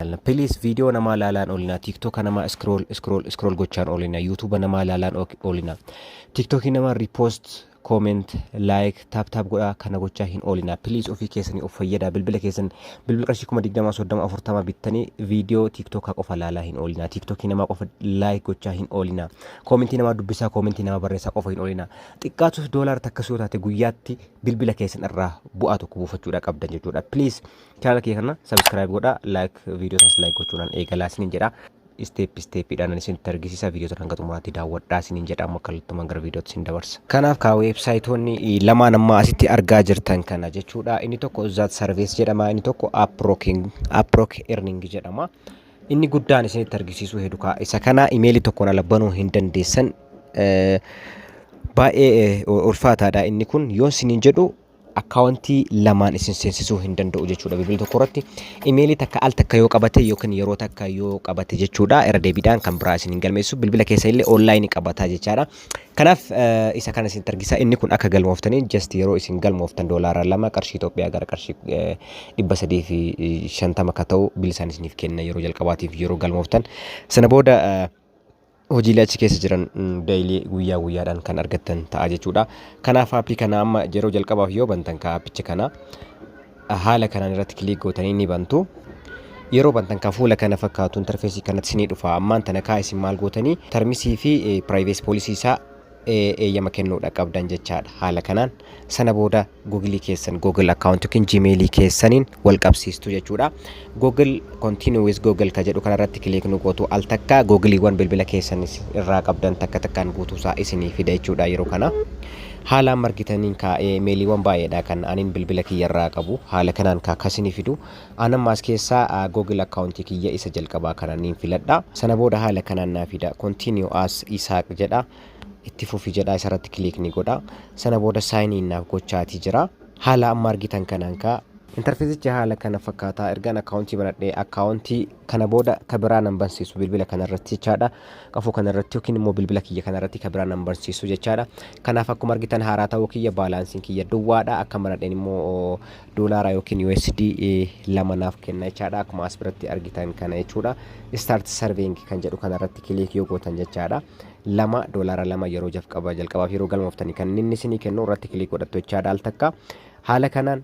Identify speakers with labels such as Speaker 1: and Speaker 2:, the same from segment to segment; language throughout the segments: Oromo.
Speaker 1: ilaalna please video namaa laalaan oolinaa tiktoka namaa scroll scroll scroll gochaan oolinaa youtube namaa laalaan oolinaa tiktokii namaa repost comment like tap tap godhaa kana gochaa hin oolinaa please ofii keessanii of fayyadaa bilbila keessan bilbila qarshii kuma digdamaa soddama afurtama bittanii video tiktoka qofa laalaa hin oolinaa tiktokii namaa qofa like gochaa hin oolinaa koomentii namaa dubbisaa koomentii namaa barreessaa qofa hin oolinaa xiqqaatus doolaara takkas yoo taate guyyaatti bilbila keessan irraa bu'aa tokko buufachuudha qabdan jechuudha please Chaanala kiyya kana subscribe godha like video sanas like gochuudhaan eegalaa isiniin jedha. Step step dhaan isinitti argisiisa video sana hanga xumuraatti daawwadhaa isiniin jedha amma kallattumaan gara viidiyootti isin dabarsa. Kanaaf kaa weebsaayitoonni lamaan amma asitti argaa jirtan kana jechuudha. Inni tokko Zat Service jedhama inni tokko Uprocking Uprock Earning jedhama. Inni guddaan isinitti argisiisuu hedu kaa isa kana imeelii tokkoon ala banuu hin dandeessan baay'ee ulfaataadha inni kun yoon isiniin jedhu akkaawuntii lamaan isin seensisuu hin danda'u jechuudha bilbila tokko irratti imeelii takka al takka yoo qabate yookiin yeroo takka yoo qabate jechuudha irra deebiidhaan kan biraa isin hin galmeessu bilbila keessa illee onlaayinii qabataa jechaadha kanaaf eh, isa kana isin argisa inni kun akka galmooftanii just yeroo isin galmooftan doolaara lama qarshii Itoophiyaa gara qarshii eh, dhibba sadii fi shantama akka ta'u bilisaan isiniif kenna yeroo jalqabaatiif yeroo galmooftan sana booda eh, hojiilee achi keessa jiran daily guyyaa guyyaadhaan kan argattan ta'a jechuudha. Kanaaf aappii kana amma yeroo jalqabaaf yoo bantan ka aappicha kana haala kanaan irratti kiliik gootanii ni bantu. Yeroo bantan ka fuula kana fakkaatu interfeesii kanatti isinii dhufa. Ammaan tana kaa isin maal gootanii tarmisii fi piraayivees poolisii isaa eeyyama kennuudha qabdan jechaadha haala kanaan sana booda google keessan google account yookiin gmail keessaniin wal qabsiistu jechuudha google continue with google ka jedhu kanarratti kiliik nu gootu al takka googiliiwwan bilbila keessan irraa qabdan takka takkaan guutuusaa isinii fida jechuudha yeroo kana haalaan margitaniin ka meeliiwwan baay'eedha kan anin bilbila kiyyarraa qabu haala kanaan ka kasinii fidu An amma as keessaa Google account kiyya isa jalqabaa kana niin filadha. Sana booda haala kanaan naa fida. Continue as Isaaq jedha. Itti fufi jedha isa irratti click ni godha. Sana booda sign in naaf gochaati jira. Haala amma argitan kanaan kaa. Interfeesichi haala kana fakkaata. Ergaan account banadhe account kana booda ka biraa nan bansiisu bilbila kana irratti jechaadha. Qafoo kana irratti yookiin immoo bilbila kiyya kana irratti ka biraa nan bansiisu jechaadha. Kanaaf akkuma argitan haaraa ta'uu kiyya baalaansiin kiyya duwwaadha. Akka banadheen immoo doolaara yookiin USD lama naaf kenna jechaadha akkuma as biratti argitan kana jechuudha start serving kan jedhu kana irratti kiliik yoo gootan jechaadha lama doolaara lama yeroo jalqaba jalqabaaf yeroo galmooftanii kan inni isinii kennu irratti kiliik godhattu jechaadha al takka haala kanaan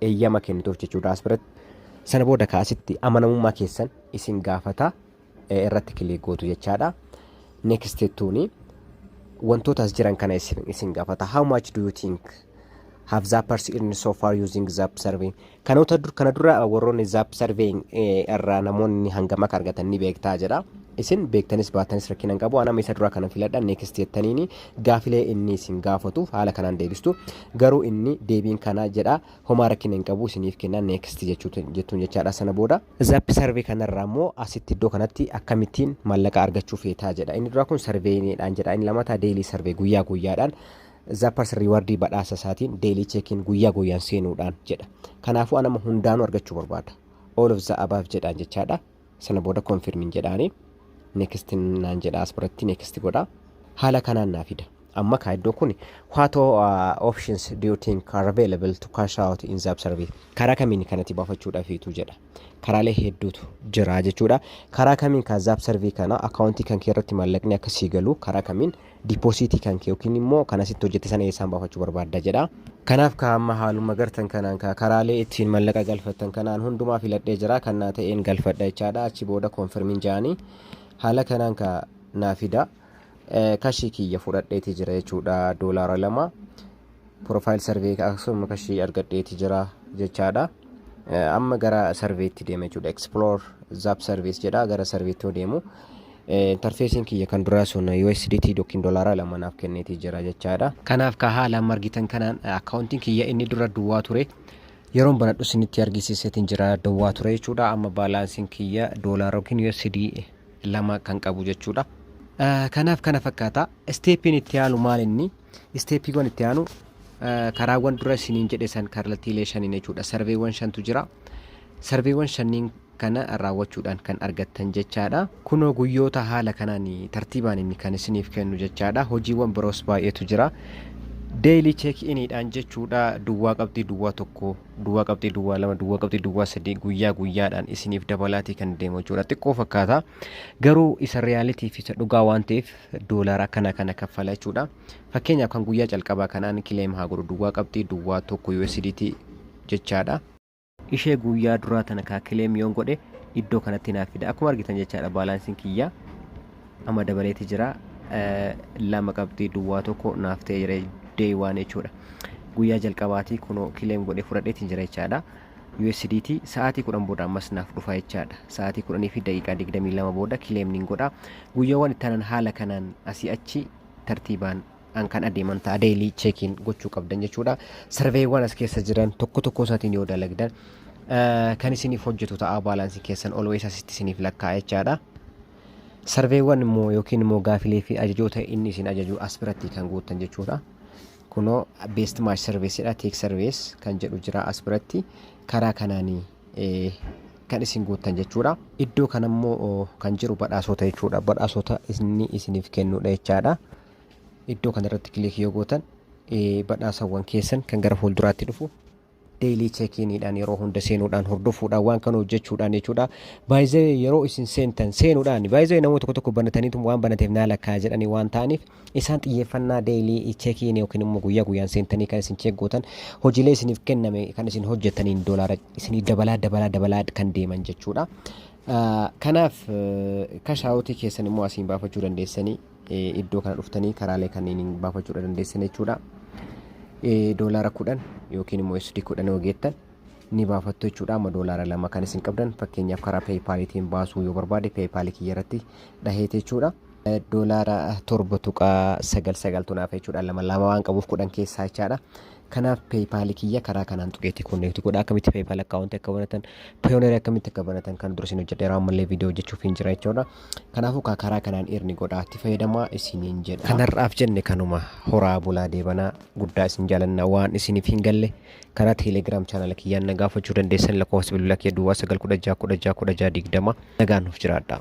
Speaker 1: eeyyama kennituuf jechuudha as biratti sana booda kaasitti amanamummaa keessan isin gaafata irratti kiliik gootu jechaadha. Next jettuuni wantoota as jiran kana isin isin gaafata. How much do you think have zappers earned so far using zap survey? Kanoota dur kana dura warroonni zap survey irraa namoonni hangam akka argatan ni beektaa jedha. Isin beektanis baatanis rakkina hin qabu. Anama isa duraa kana filadha next jettaniini gaafilee inni isin gaafatu haala kanaan deebistu. Garuu inni deebiin kana jedha homaa rakkina hin qabu isiniif kenna next jechuutu jettuun jechaadha sana booda. Zap survey kana irraa immoo asitti iddoo kanatti akkamittiin maallaqa argachuu feetaa jedha. Inni duraa kun sarveeyiniidhaan jedha. Inni lamataa deelii sarvee guyyaa guyyaadhaan zappers riiwardii badhaasa isaatiin deelii cheekiin guyyaa guyyaan seenuudhaan jedha. Kanaafuu anama hundaanuu argachuu barbaada. All of the above jedhaan jechaadha. Sana booda confirmin jedhaani. Next naan jedha as biratti next godha. Haala kanaan naa fida. Amma kaa iddoo kun what all uh, options do you think are available to cash out in zap survey karaa kamiin kanatti baafachuudhafiitu jedha karaalee hedduutu jira jechuudha karaa kamiin kaa zap survey kana akaawuntii kan kee irratti maallaqni akka sii galu karaa kamiin dipoosiitii kan kee yookiin immoo kan asitti hojjette sana eessaan baafachuu barbaadda jedha kanaaf kaa amma haaluma gartan kanaan kaa karaalee ittiin mallaqa galfattan kanaan hundumaa filadhee jira kan naa ta'een galfadha jechaadha achi booda koonfirmiin ja'anii haala kanaan kaa naa fida kashii kiyya fudhadheeti jira jechuudha doolaara lama profile survey akkasuma kashii argadheeti jira jechaadha amma gara sarveetti deema jechuudha explore zap service jedha gara sarveetti yoo deemu interfeesiin kiyya kan duraa sun USDT yookiin doolaara lama naaf kenneeti jira jechaadha kanaaf ka haala amma argitan kanaan akkaawuntiin kiyya inni dura duwwaa ture yeroon banadhu isinitti argisiiseetiin jira duwwaa ture jechuudha amma baalaansiin kiyya doolaara yookiin USD lama kan qabu jechuudha. Kanaaf kana fakkaata. Isteeppiin itti aanu maal inni? Isteeppiiwwan itti aanu karaawwan dura isiniin jedhe san kallattiilee shaniin jechuudha. Sarveewwan shantu jira. Sarveewwan shanniin kana raawwachuudhaan kan argattan jechaadha. Kunoo guyyoota haala kanaan tartiibaan inni kan isiniif kennu jechaadha. Hojiiwwan biroos baay'eetu jira. Deelii cheek iniidhaan jechuudha duwwaa qabxii duwwaa tokko duwwaa qabxii duwwaa lama duwwaa qabxii duwwaa sadii guyyaa guyyaadhaan isiniif dabalaatii kan deemu jechuudha xiqqoo fakkaata garuu isa reyaalitii fi isa dhugaa waan ta'eef doolaara akkana kana kaffala jechuudha fakkeenyaaf kan guyyaa calqabaa kanaan kileem haa godhu duwwaa qabxii duwwaa tokko USDT jechaadha ishee guyyaa duraa tana kaa kileem yoon godhe iddoo kanatti naaf fida akkuma argitan jechaadha baalaansiin kiyyaa amma dabaleeti jira lama qabxii duwwaa tokko naaf ta'ee jira day waan jechuudha guyyaa jalqabaatii kunoo kileem godhee fudhadheetiin jira jechaadha USDT sa'aatii kudhan booda ammas naaf dhufa jechaadha sa'aatii kudhanii fi daqiiqaa digdamii lama booda kileem niin godha guyyaawwan ittaanan haala kanaan asii achi tartiibaan an kan adeeman ta'a deelii cheekiin gochuu qabdan jechuudha sarveewwan as keessa jiran tokko tokko isaatiin yoo dalagdan kan isiniif hojjetu ta'a baalaansii keessan olwees asitti isiniif lakkaa'aa jechaadha. Sarveewwan immoo yookiin immoo gaafilee fi ajajoota inni isin ajaju as biratti kan guuttan jechuudha. Kunoo best match service dha take service kan jedhu jira as biratti karaa kanaanii eh, kan isin guuttan jechuudha. Iddoo kana immoo oh, kan jiru badhaasota jechuudha. Badhaasota inni isiniif kennudha jechaadha. Iddoo kana irratti kilik yoo gootan eh, badhaasawwan keessan kan gara fuulduraatti dhufu daily check-in dhaan yeroo hunda seenuudhaan hordofuudhaan waan kana hojjechuudhaan jechuudha. Baay'ee yeroo isin seentan seenuudhaan baay'ee namoota tokko tokko banataniitu waan banateef naa lakkaa jedhanii waan ta'aniif isaan xiyyeeffannaa daily check-in yookiin immoo guyyaa guyyaan seentanii kan isin check gootan hojiilee isiniif kenname kan isin hojjetaniin doolaara isinii dabalaa dabalaa dabalaa kan deeman jechuudha. Kanaaf kashaawutii keessan immoo asiin baafachuu dandeessanii iddoo kana dhuftanii karaalee kanniiniin baafachuudha dandeessan jechuudha. Doolaara kudhan yookiin immoo SD kudhan yoo geettan ni baafattu jechuudha. Amma doolaara lama kan isin qabdan fakkeenyaaf karaa peepaaliitiin baasuu yoo barbaade peepaalii kiyya irratti dhaheete jechuudha. Doolaara torba tuqaa sagal sagaltu naaf jechuudha. Lama lama waan qabuuf kudhan keessaa jechaadha. Kanaaf PayPal kiyya karaa kanaan tuqeetii connect godha akkamitti PayPal account akka banatan Payoneer akkamitti akka banatan kan dursin hojjedheera ammallee viidiyoo hojjechuuf hin jira jechuudha. Kanaafuu kaa karaa kanaan irni godhaa itti fayyadamaa isiniin jedha. Kan har'aaf jenne kanuma horaa bulaa deebanaa guddaa isin jaalanna waan isiniif hin galle karaa Telegram channel kiyyaan na gaafachuu dandeessan lakkoofsa bilbila kiyya duwwaa 916161620 nagaan nuuf jiraadhaa.